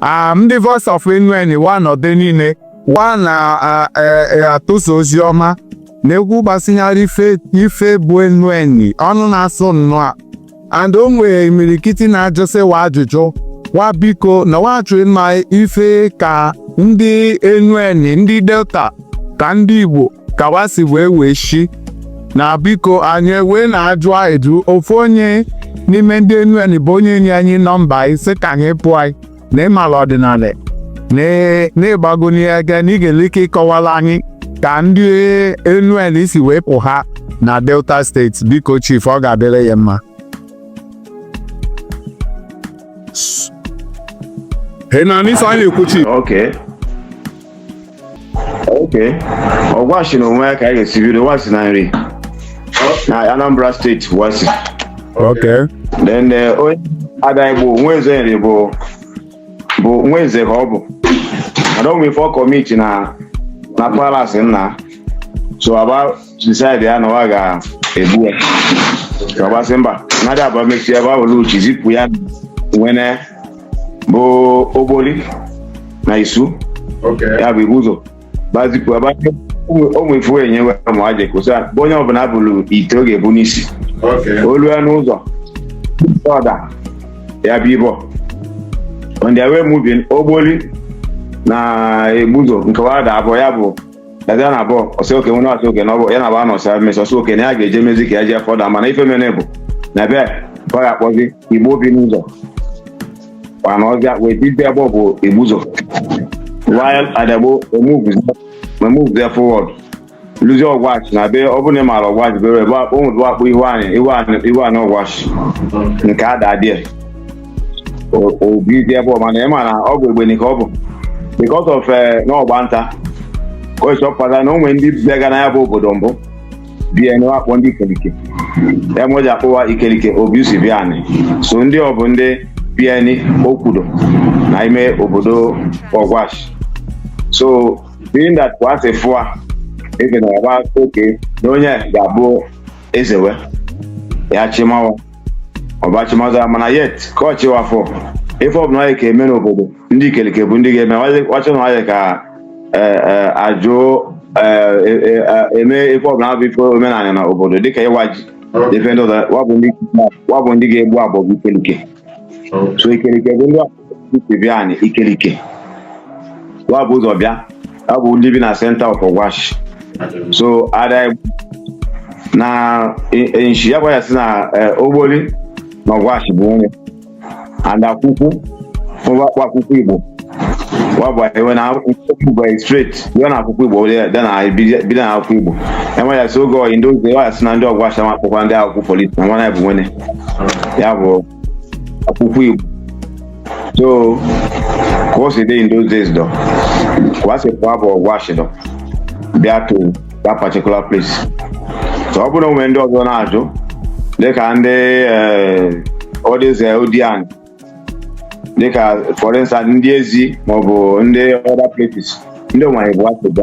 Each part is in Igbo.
Ah, ndị Voice of Enuani wa nọdụ niile wa na-atụsa ozi ọma na-ekwu gbasinyere ife bụ Enuani ọnụ na-asụ nnọọ and o nwere imirikiti na-ajụsị wa ajụjụ wa biko na wa chọ ịma ife ka ndị Enuani ndị Delta ka ndị Igbo ka wa si wee wee shi na biko anyị wee na-ajụ ajụ ofu onye n'ime ndị Enuani bụ onye nye anyị nọmba yị sị ka anyị kpọọ yị na ị mala ọdịnala na ị gbago n'ihe aka na ị ga-enwe ike ịkọwala anyị ka ndị Enuani si wee pụha na Delta steeti biko chief ọ ga-adịrị ya mma Hey, now this I need to okay Ọgwashi na onwe ya ka anyị ga-esi bido wa si na Nri na Anambra steeti wa si Okay. then eh, onye Adaigbo nwa eze Nri bụ bụ nwa eze ka ọ bụ and o nwe ife ọ kọmiti na na palace nna so a ba decide ya na wa ga-egbu ya ka a ba sị mba mmadụ abụọ mesịa ebe ọ bụla uchi zipụ ya nwanne bụ Ogboli na Isu Okay. ya bụ Igbuzo ba zipụ wa o nwe ife e nye wa ma aje kosa bụ onye ọbụla bulu ite ọ ga-ebu n'isi Okay. o lue n'ụzọ ọ da ya bi ebe ọ on their way moving Ogboli na Igbuzo nke wa da ebe ọ ya bụ dazịa na ebe ọ ọ sị okay nwere ọ sị okay na ọ bụ ya na ba nọsị emesịa ọ sị okay na ya ga-eje mezi ka ya jee further mana ife mere bụ na bịa ka ọ ga-akpọzi Igbo bi n'ụzọ mana ọ ga wee bili ebe ọ bụ Igbuzo while Adaigbo emuvuzie forward luzie Ọgwashi na be ọ bụrụ na ị maara Ọgwashi bere ebe o nwere a kpọ ihu anị ihu anị ihu anị Ọgwashi nke ya da there o bizie ebe ọ mana ị ma na ọ bụ egbeni ka ọ bụ because of eh, na ọ gba nta ka ọ chọpụtara na o nwe ndị biga na ya bụ obodo mbụ bi anị a kpọ ndị Ikelike ya me e ji akpọ wa Ikelike obi si bịa anị so ndị ọ bụ ndị bi anị o kwudo na ime obodo Ọgwashi so being that kwa asị fụa ebe na ọgba oke na onye ga-abụ eze wa ya chịma wa ọ ba chịmazịa mana yet ka ọ chị wa fọ ife ọbụla anyị ka eme n'obodo ndị Ikelike bụ ndị ga-eme ọchị na anyị ka e, e, ajụ e, eme ife ọbụla bụ ife omenala na obodo dịka ịwa ji ife ndị ọzọ wa bụ ndị ga-egbu agbọgbu Ikelike so Ikelike bụ ndị ndị Ikelike wa bu ụzọ bịa ya bụ ndị bi na centre of Ogwashi so ada na nshi ya gwara si na Ogboli na Ogwashi bụ nwanne and Akwụkwụ mgbakwa Akwụkwụ Igbo wabụ ewe na Akwụkwụ straight bịa na Akwụkwụ Igbo dị na bido na Akwụkwụ Igbo enwe ya si oge in those days ya sị na ndị Ogwashi ma akpọkwa ndị Akwụkwụ polisi na nwanne ya bụ nwene ya bụ Akwụkwụ Igbo so ka o si dị in those days dọ ka a sị pụọ bụ Ogwashi dọ bịa to that particular place so ọ bụrụ o nwe ndị ọzọ na-ajụ dịka ndị ọdịze eh, Odiani eh, dịka for instance ndị Ezi maọbụ ndị other places ndị onwe bụ achịdọ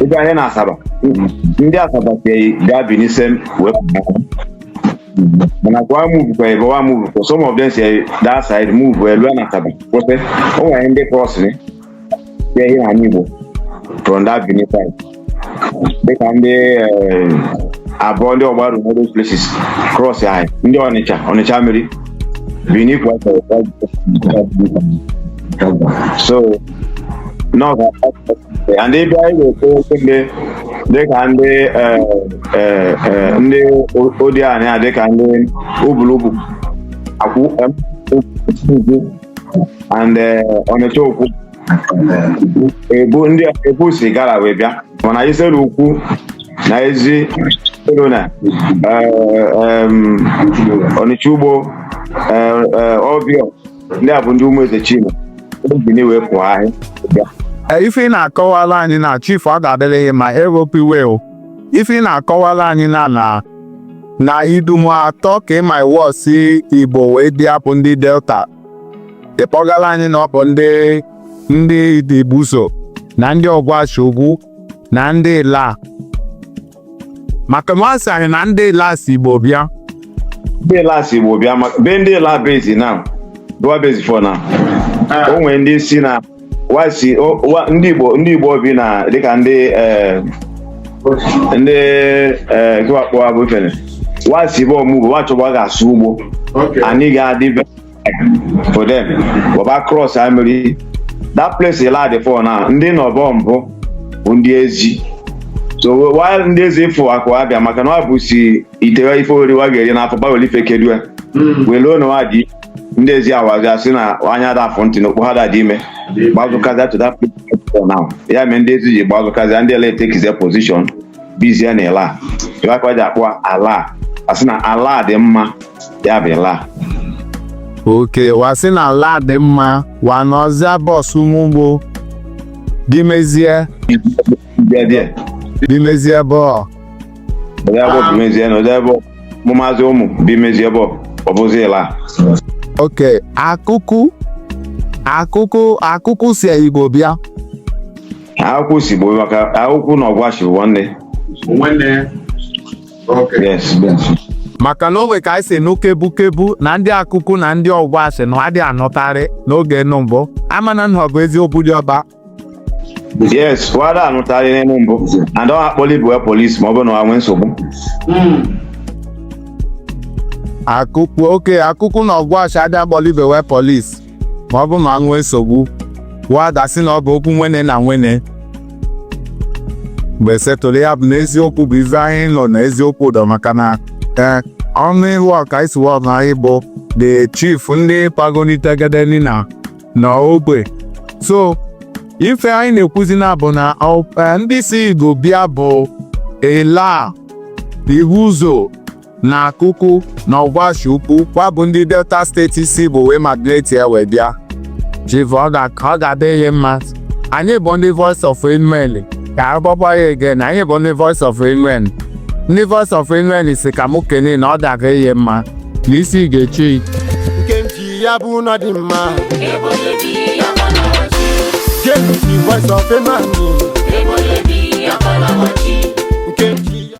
ị bịa ihe na Asaba ndị Asaba si gaa Benin side wee pụ mana ka wa move kwa ebe wa move kwa some of them si that side move wee lu na Asaba kwụsị o nwere ndị cross ni ya ihe na Igbo from that Benin side dịka ndị eh, Abọ ndị Ọgbaru all those places cross anyị ndị Ọnịcha Ọnịcha Mmiri Benin kwa so n'oge and ebe anyị na-ekwu okwu ndị dịka ndị eh, eh, eh, ndị o- Odiani dịka ndị Ubulubu akwụ em, ukwu and eh, Ọnịcha Ukwu Ebu ndị Ebu si Igala wee bịa mana Isele Ukwu na Ezi Ọlọna eh, em, Ọnịcha Ugbo eh, eh, Ọbịọ ndị a bụ ndị ụmụ Eze Chima Bini wee pụha bịa Ee, ife ị na-akọwala anyị na chief ọ ga-adịrị gị mma eropiwe o ife ị na-akọwala anyị na na na idumu atọ ka ị ma iwọ si Igbo wee bịa bụ ndị Delta ị kpọgala anyị na ọ bụ ndị ndị ndị Ibuzọ na ndị Ọgwashi Ukwu na ndị Ịla maka na wa sị anyị na ndị Ịla si Igbo bịa ndị Ịla si Igbo bịa maka ebe ndị Ịla bizi now dọ wa bezi fụ na o nwere ndị sị na wa si o- wa- ndị Igbo ndị Igbo bi na dịka ndị eh, ndị eh, ke wa kpọ wa bụ ifene wa si bụ ọmụgwọ wa chọba ga-asụ ugbo Okay. anị ga-adị be for them wa ba cross ha mmiri that place Ịla dị fụ na ndị nọbu mbụ bụ ndị Ezi so while ndị Ezi fụ akụ abịa maka na ọ bụ si itewe ife oriri wa ga-eri n'afọ gbawere ife kedue weluo na wa dị ndị Ezi awazi asị na anya a da-afụ ntị na okpoho a da-adị ime gbazụkazịa to that place for now ya mee ndị Ezi ji gbazụkazịa ndị Ịla take their position bizie na Ịla ife wa kwa ji akpọ Ala asị na ala dị mma ya bụ Ila okay wa sị na ala dị mma wa nọzịa bọs ụmụgbo bimezie bịa bịa bimezie bọọ ọdịa bọọ bimezie na ọdịa bọọ mụ maazị ụmụ bimezie bọọ ọ bụzi Ila okay Akwụkwụ Akwụkwụ Akwụkwụ si Igbo bịa Akwụkwụ si Igbo maka Akwụkwụ na Ọgwashi bụ nwanne nwanne maka na o nwe ka anyị si nụ kebu kebu na ndị Akwụkwụ na ndị Ọgwashi na wa adị anụtarị n'oge nụ mbụ amana na ọ bụ eziokwu diọkpa yes wa adị anụtarị n'enu mbụ and ọ akpọli bụ polisi ma ọ bụrụ na ọ nwee nsogbu Akwụkwụ okay Akwụkwụ na Ọgwashi adị akpọli ibe we polisi ma ọ bụ ma nwee nsogbu wa adasị na ọ bụ okwu nwenne na nwenne mgbe settle ya bụ na eziokwu bụ ife anyị nụ na eziokwu ụdọ maka na ee ọnụ ihu ọka is one of the chief ndị pagonitegedeni na na ogbe so ife anyị na-ekwuzi na bụ na ọ- eh, ndị si Igbo bịa bụ Ila Ibuzo na Akwụkwụ na Ọgwashi Ukwu wa bụ ndị Delta steeti si Igbo wee migrate wee bịa Chief ọ ga- ọ ga-adị ị mma anyị bụ ndị voice of Enuani ka agbakwa ya ege na anyị bụ ndị voice of Enuani ndị voice of Enuani si ka mụ kene na ọ ga-aga ị mma na isi ga-echi nke m ji ya bụ na dị mma ebe onye bi ka ọ na-awachi, genụ ntị voice of Enuani ebe onye bi ka ọ na-awachi. nke m ji